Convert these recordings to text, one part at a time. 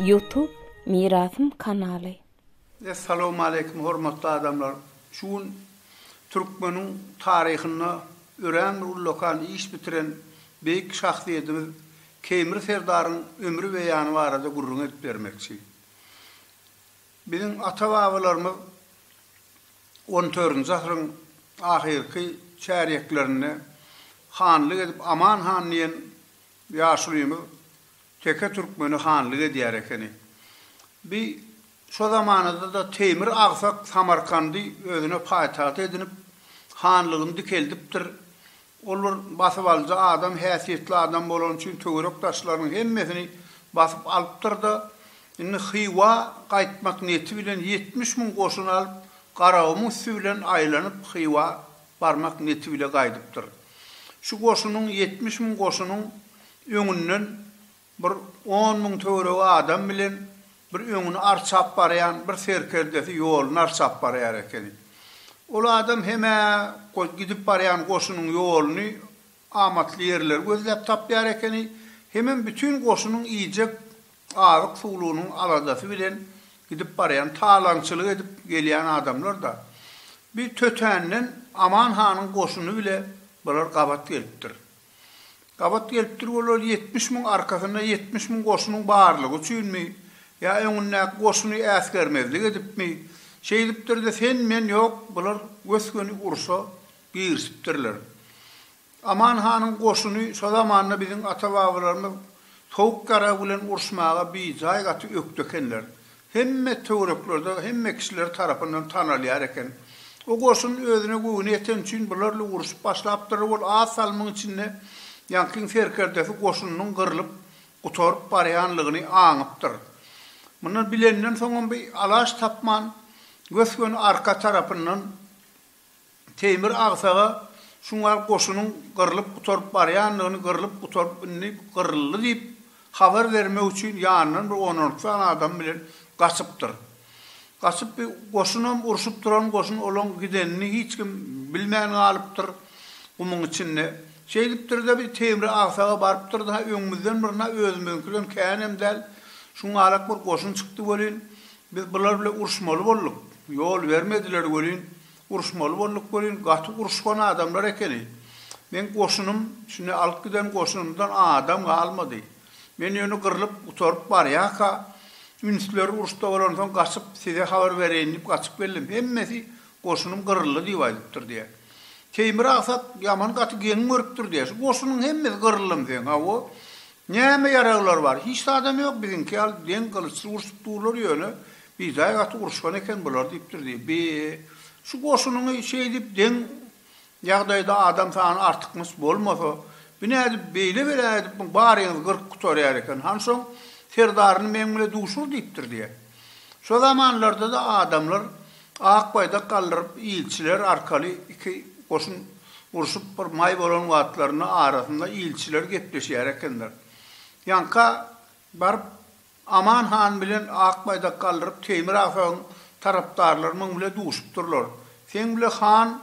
Youtube Mirasym kanaly. Essalawmaleýkim hormatly adamlar! Şu gün türkmeniň taryhynda örän bir ullakan iş bitiren beýik şahsyýedimiz Keýmir serdaryň ömri beýany barada gürrüň edip bermekçi. Biziň ata-babalarymyz on dördünji asyryň ahyrky çärýeklerinde hanlyk edip Aman han diýen ýaşulymyz teke türkmeni hanlyk edýär ekeni. Bi şo zamanada-da Teýmir Agsak Samarkandy özüne paýtagt edinip, hanlygyny dikeldipdir. Ol bir basybalyjy adam, häsiýetli adam bolany üçin töwerek daşlarynyň hemmesini basyp alypdyr-da, indi Hywa gaýtmak niýeti bilen ýetmiş müň goşun alyp, Garagumuň üsti bilen aýlanyp, Hywa barmak niýeti bile gaýdypdyr. Şu goşunyň, ýetmiş müň goşunyň öňünden Bir on müň töweregi adam bilen bir öňüni arçap barýan bir serkerdesi ýoluny arçap barýar ekeni. Ol adam hem-ä gidip barýan goşunyň ýoluny, amatly ýerleri gözläp tapýar ekeni, hemem bütin goşunyň iýjek azyk-suwlugynyň aladasy bilen gidip barýan, talaňçylyk edip gelýän adamlar-da. Bir tötänden Aman hanyň goşuny bile bular gabat gelipdir. Gabat gelipdir bolar ýetmiş müň arkasynda ýetmiş müň goşunyň barlygy üçinmi ýa öňündäki goşuny äsgermezlik edipmi şeýdipdirde sen men ýok bular gös-göni urşa girisipdirler Aman hanyň goşuny şo zamanda biziň ata-babalarymyz sowuk ýarag bilen urşmaga bijaý gaty ökde ekenler Hemme töwereklerde hemme kişiler tarapyndan tanalýar eken. O goşun özüne göwni ýeten üçin bularly uruşyp başlapdyr. Ol az salymyň içinde ýaňkyň serkerdesi goşunynyň gyrlyp, gutaryp barýanlygyny aňypdyr. Muny bilenden soňam bir alaç tapman, gös-göni arka tarapyndan. Teýmir agsaga Şungal goşunyň gyrlyp gutaryp barýandygyny, gyrlyp gutaryp indi gyryldy diýip habar bermek üçin ýanyndan bir on-on iki sany adamy bilen gaçypdyr. Gaçyp bi goşunam urşup duran goşun olaň gidenini hiç kim bilmän galypdyr gumuň içinde. Şeýdipdir-de bi Teýmir agsaga barypdyr-da, öňümizden bir na özümiziňkiden känem däl, şungalak bir goşun çykdy welin, Biz bular bile uruşmaly bolduk. Ýol bermediler welin, uruşmaly bolduk welin, gaty uruşgan adamlar ekeni. Meň goşunym, şindi alyp giden goşunymdan adam galmady. Men ýöne gyrlyp, gutaryp barýarka, ünsleri uruşda bolansoň gaçyp, size habar bereýin diýip gaçyp geldim. Hemmesi goşunym gyryldy diýip aýdypdyr diýýär. Teýmir Agsat ýaman gaty geň görüpdir diýýär. Şu goşunyň hemmesi gyryldymy seň? Hawa, Näme ýaraglar bar? Hiç zadam ýok, biziňki ýaly deň gylyçly urşup durlar ýöne, bijaý gaty uruşgan eken bular diýipdir diýip. Bi, şu goşunyňy şeýdip deň ýagdaýda adam sany artykmaç bolmasa, bi nädip beýle bela edip muň baryňyzy gyryp gutarýar eken, hansoň serdaryny meň bile duşur diýipdir diýýär. Şo zamanlarda-da adamlar Ak baýdak galdyryp, ilçiler arkaly iki goşun urşup bir maý bolan wagtlarynda arasynda ilçiler gepleşýär ekenler. Ýaňka baryp Aman han bilen ak baýdak galdyryp Teýmir Asagyň tarapdarlary muň bile duşupdyrlar. Seň bile han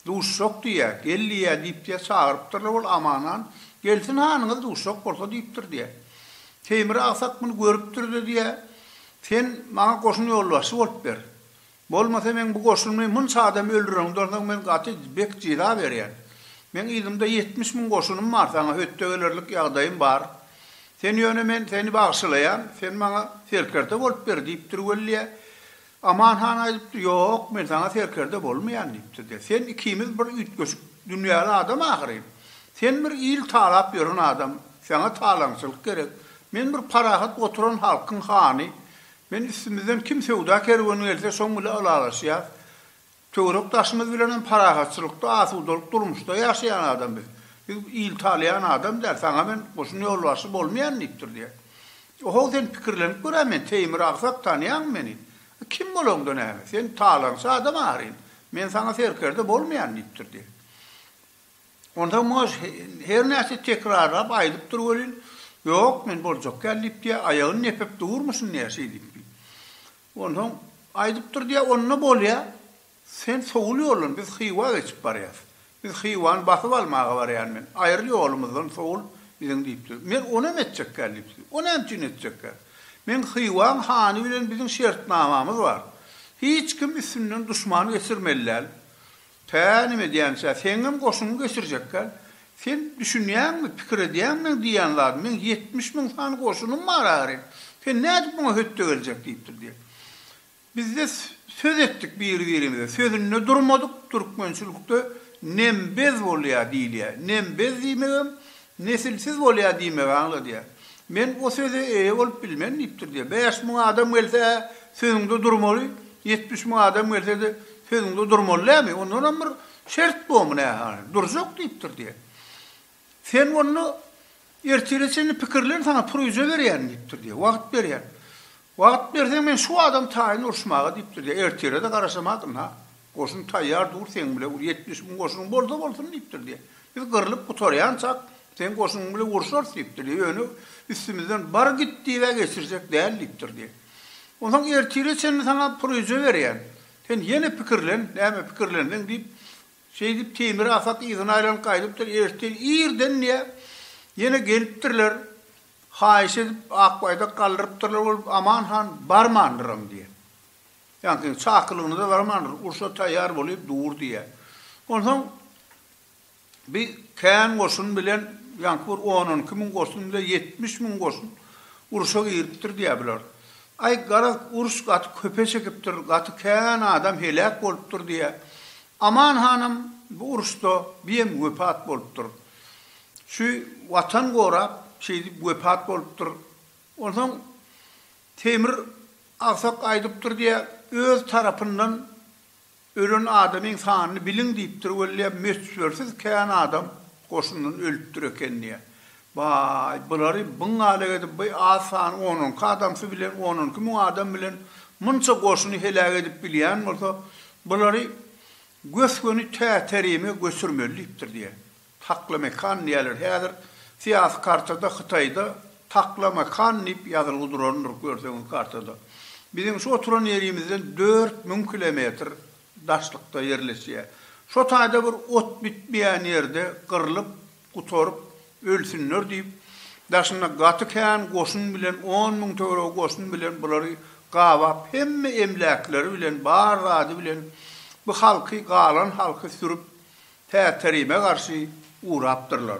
Duşjak diýýä, gel diýýä diýipdir, çagyrypdyrlar, ol Aman han, Gelsin hanyňyz duşjak bolsa diýipdir diýýä. Teýmir agsak muny görüpdir-de diýýä, Sen maňa goşun ýolbaşçy bolup ber. Bolmasa meň bu goşunymy munça adam öldüren, ondan soň men gaty bek jeza berýän. Meň yzymda ýetmiş müň goşunym bar, saňa hötde gelerlik ýagdaýym bar. Sen ýöne men seni bagşylaýan, sen maňa serkerde bolup ber diýipdir weli diýýä. Aman han aýdypdy, Ýok, men saňa serkerde bolmaýan diýipdir-de. Sen ikimiz bir üýtgeşik dünýäli adam ahyryn. Sen bir il talap ýören adam, saňa talaňçylyk gerek. Men bir parahat oturan halkyň hany. Men üstümizden kim söwda kerweni gelse, şoň bile ylalaşýas. Töwerek-daşymyz bilenem parahatçylykda, asudalyk durmuşda ýaşaýan adam biz. Biz il talaýan adam däl, saňa men goşun ýolbaşçy bolmaýan diýipdir diýýär. O-how, sen pikirlenip gör-ä, men Teýmir agsak, tanýaňmy meni? A kim bolaňda näme? Sen talaňçy adam ahyryn. Men saňa serkerde bolmaýan diýipdir diýýär. Onsoň muňa her näçe tekrarlap aýdypdyr welin, Ýok, men boljak däl diýip diýýär, aýagyny nepip durmuşyn diýýär, şeýdip diýip. Onsoň aýdypdyr diýýär, onda bolýa, sen sowul ýollan, biz Hywa geçip barýas. Biz Hywany basyp almaga barýan men. Aýryl ýolumyzdan, sowul biziň diýipdir. Men ony hem etjekgän diýipdir. O näme üçin etjekgän? Meň Hywaň hany bilen biziň şertnamamyz bar. Hiç kim üstünden duşman geçirmeli däl. Pä neme edýämiz-ä, seňňem goşuňy geçirjekkä. Sen düşünýäňmi, pikir edýäňmi meň diýýän zadymy, meň ýetmiş müň sany goşunym bar ahyry. Sen nädip muňa hötde geljek diýipdir diýen. Bizde söz etdik biri-birimize, sözünde durmadyk, türkmençilikde nembez bolýar diýilýär. Nembez diýmegem Nesilsiz bolýar diýmegi aňladýar. Men o söze eýe bolup bilmen diýipdir diýýär. Bäş müň adam gelse-ä sözüňde durmaly, ýetmiş müň adam gelse-de sözüňde durmaly dämi? Ondanam bir şert bormy nähali? Durjak diýipdir diýýär. Sen onda ertire çenli pikirlen saňa pürüje berýän diýipdir diýýär. Wagt berýän. Wagt berseň men şu adam taýyn uruşmaga diýipdir ýa ertirede garaşamadyryn ha. Goşun taýýar dur seň bile ur ýetmiş müň goşunyň bolsa bolsun diýipdir ýa. Biz gyrlyp gutarýançak seň goşunyň bile urşarys diýipdir ýa ýöne üstümizden bar git diýibä geçirjek däl diýipdir ýa. Onsoň ertire çenli saňa puryja berýän. Sen ýene pikirlen näme pikirlenseň diýip şeýdip Teýmir Atak yzyna aýlanyp gaýdypdyr ertir irden ýa ýene gelipdirler Haýyş edip, Akbaýdak galdyrypdyrlar bolup, Aman han barmandyram diýýär. Ýagny seň çakylygyňa-da barmandyr, urşa taýýar bolup dur diýýär. Onsoň bi kän goşun bilen, ýaňky bir on-on iki müň goşun bilen ýetmiş müň goşun urşa giripdir diýýär bular. Aý, garaz, uruş gaty köpe çekipdir, gaty kän adam heläk bolupdyr diýýär. Aman hanam bu uruşda biýem wepat bolupdyr. Şu Watan gorap, şeýdip wepat bolupdyr. Onsoň Temir agsak aýdypdyr diýýär, öz tarapyndan ölen adamyň sanyny biliň diýipdir weli, möçbersiz kän adam goşundan ölüpdir eken diýýär. Baý, bulary byň-alek edip, bu az sany on onki adamsy bilen, on onki müň adam bilen munça goşuny heläk edip bilýän bolsa, bulary Gös-göni Täterime göçürmeli diýipdir diýýär. Taklamakan diýýärler. Häzir syýasy kartada Hytaýda Taklamakan diýip ýazylgy durandyr, görseňiz kartada. Biziň şu oturan ýerimizden dört müň kilometr daşlykda ýerleşýär. Şo taýda bir ot bitmeýän ýerde gyrlyp, gutaryp, ölsünler diýip, daşynda gaty kän goşun bilen, on müň töweregi goşun bilen bulary gabap, hemme emläkleri bilen, bar zady bilen bu halky, galan halky sürüp, Täterime garşy ugrapdyrlar.